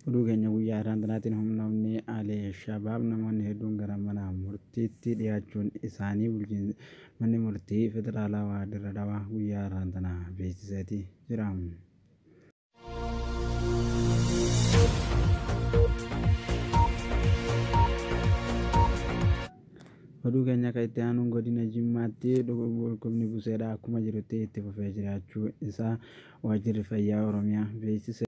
Oduu keenya guyyaa har'aan tanaatiin humnoonni Al-Shabaab namoonni hedduun gara mana murtiitti dhiyaachuun isaanii bulchiinsi manni murtii federaalawaa Dirree Dhawaa guyyaa har'aan tana beeksiseeti jira. Oduu keenya akka itti aanuun godina Jimmaatti dhukkubni buseedha akkuma jirutti itti fufee jiraachuu isaa waajjirri fayyaa Oromiyaa beeksise.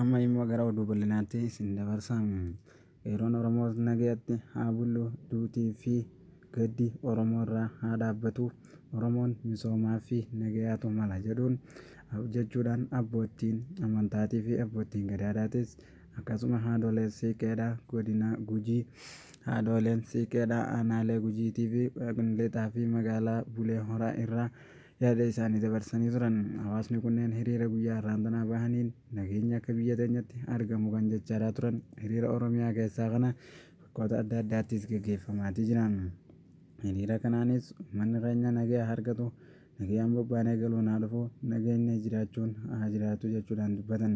Amma immoo gara oduu bal'inaatti isin dabarsa. Qeerroon Oromoo nagayatti haa bullu, duutii fi gaddi Oromoo irraa haa dhaabbatu, Oromoon misoomaa fi nagayaatu mala jedhuun jechuudhaan abboottiin amantaatii fi abboottiin gadaadhaatis akkasuma haadholeen siiqqeedhaa godina Gujii, haadholeen siiqqeedhaa aanaalee Gujiitii fi Lixaa fi magaalaa Bulee Horaa irraa Yaada isaani dabarsanii turan. Hawaasni kunneen hiriira guyyaa har'aan tanaa bahaniin nageenyi akka biyya teenyatti argamu kan jechaaraa turan hiriira Oromiyaa keessaa kana bakkoota adda addaattis gaggeeffamaatii jira. Hiriira kanaanis ummanni keenya nagaya haa argatu, nagayaan bobbaanee galuun haa dhufu, nageenyi jiraachuun haa jiraatu jechuudhaan dubbatan.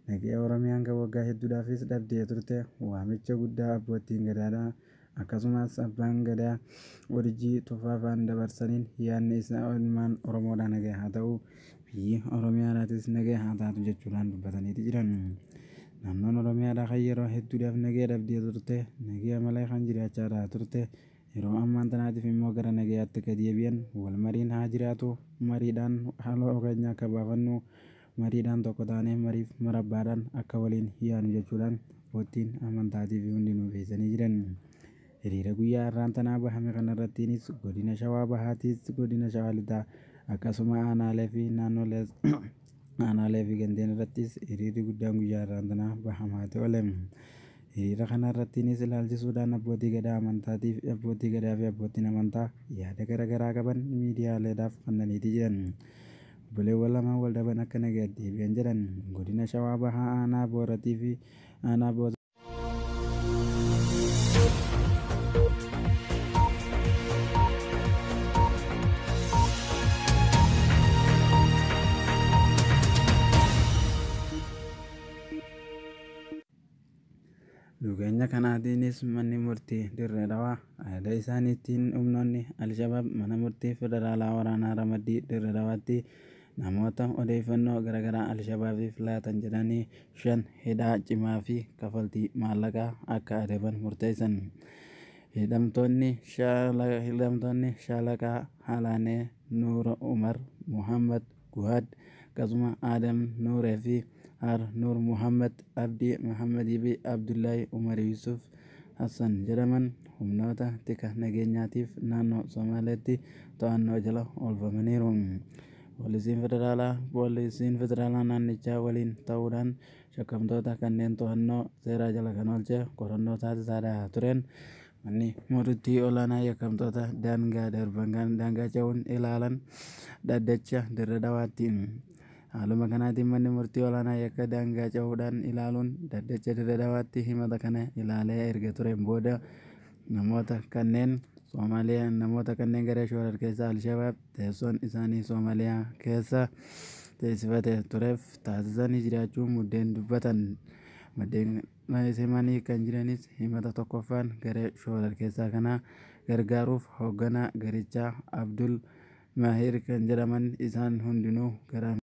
Nagaya Oromiyaan kan waggaa hedduudhaafis dhabdee turte waamicha guddaa Abboottiin Gadaadhaa, Akkasumas Abbaan Gadaa Urjii Tufaa faan dabarsaniin yaadni isaa ilmaan Oromoodhaa nagaya haa ta'u, biyyi Oromiyaadhaatis nagaya haa taatu jechuudhaan dubbataniiti jiran. Naannoon Oromiyaadhaa kan yeroo hedduudhaaf nagaya dhabdee turte, nagaya malee kan jiraachaadhaa turte, yeroo ammaan tanaatiif immoo gara nagayaatti akka deebi'an, wal mariin haa jiraatu, mariidhaan haaloo keenya akka baafannu, Mariidhaan tokko taanee mariif marabbaadhaan akka waliin yaanu jechuudhaan Oottiin Amantaatiifi hundinuu feesanii jiran. Hiriira guyyaa har'aan tanaa bahame kanarrattiinis Godina Shawaa Bahaatiis, Godina Shawaa Lixaa akkasuma Aanaaleefi Naannolees Aanaaleefi Gandeen irrattiis hiriirri guddaan guyyaa har'aan tanaa bahamaati oole. Hiriira kanarrattiinis ilaalchisuudhaan Abbootii Gadaa Amantaatiif Abbootii Gadaafi Abboottiin Amantaa yaada gara garaa qaban miidiyaaleedhaaf kannaniiti jiran. Obboleewwan lamaan wal dhaban akka nagayatti deebi'an jedhan Godina Shawaa Bahaa Aanaa Booratii fi Aanaa Booza. Dhugeenya kanaatiinis manni murtii Dirree Dhawaa ajaja isaaniitiin humnoonni Alshabaab mana murtii federaalaa waraanaa ramaddii Dirree Dhawaatti namoota odeeffannoo garaagaraa Alshabaabiif laatan jedhanii shan hidhaa cimaa fi kafaltii maallaqaa akka adaban murteessan. Hidhamtoonni shaala- hidhamtoonni shaalaqaa Halaanee Nuura Umar Muhammad Guhaad Qasuma Adam Nuure fi Har Nuur Muhammad Abdi Muhammad fi Abdullahi Umar Yusuf Hassan jedhaman humnoota tika nageenyaatiif naannoo Somaaleetti to'annoo jala oolfamaniiru. Poolisiin Federaalaa Poolisiin Federaalaa naannichaa waliin ta'uudhaan shakkamtoota kanneen to'annoo seeraa jala kan oolche qorannoo taasisaadha tureen Manni Murtii Olaanaa Yakkamtoota Daangaa Darban kan Daangaa Ce'uun Ilaalan Dhaddacha Dirre Dhawaatti. Haaluma kanaatiin Manni Murtii Olaanaa Yakka Daangaa Ce'uudhaan Ilaaluun Dhaddacha Dirre Dhawaatti himata kana ilaalee erga tureen booda namoota kanneen Soomaaliyaa namoota kanneen garee shororkeessaa Alshabaab teessoon isaanii Soomaaliyaa keessa teessifate tureef taasisanii jiraachuu muddeen dubbatan. Maddeen Mayisimanii kan jiranis himata tokkoffaan garee shoorarkeessaa kanaa gargaaruuf hoogganaa garichaa Abdul Mahiir kan jedhaman isaan hundinuu gara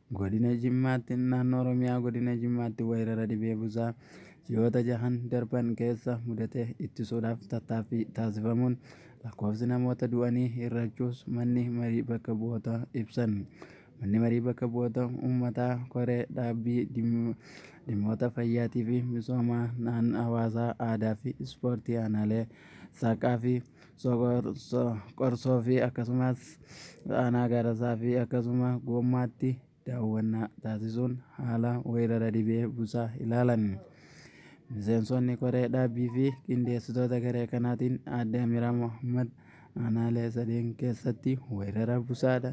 Godina Jimmaatti, Naannoo Oromiyaa Godina Jimmaatti weerara dhibee busaa ji'oota jahan darban keessa mudate ittisuudhaaf tattaaffii taasifamuun lakkoofsi namoota du'anii hir'achuus manni marii bakka bu'ootaa ibsan. Manni marii bakka bu'oota uummataa koree dhaabbii dhimmoota fayyaatii fi misoomaa naan hawaasaa aadaa fi ispoortii aanaalee saaqaa fi Qorsoo fi akkasumas aanaa Gaarasaa fi akkasuma Goommaatti daawwannaa taasisuun haala weerara dhibee busaa ilaalan. Miseensonni koree dhaabbii fi qindeessitoota garee kanaatiin aadde Amiraa Mohaammed aanaalee sadeen keessatti weerara busaadha.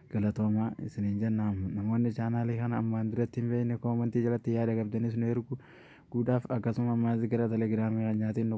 Galatooma isiniin jenna. Namoonni chaanaalii kana ammaan duratti hin beekne koomantii jalatti yaada qabdanis nu ergu guudhaaf akkasuma ammaas gara telegiraamii keenyaatiin nu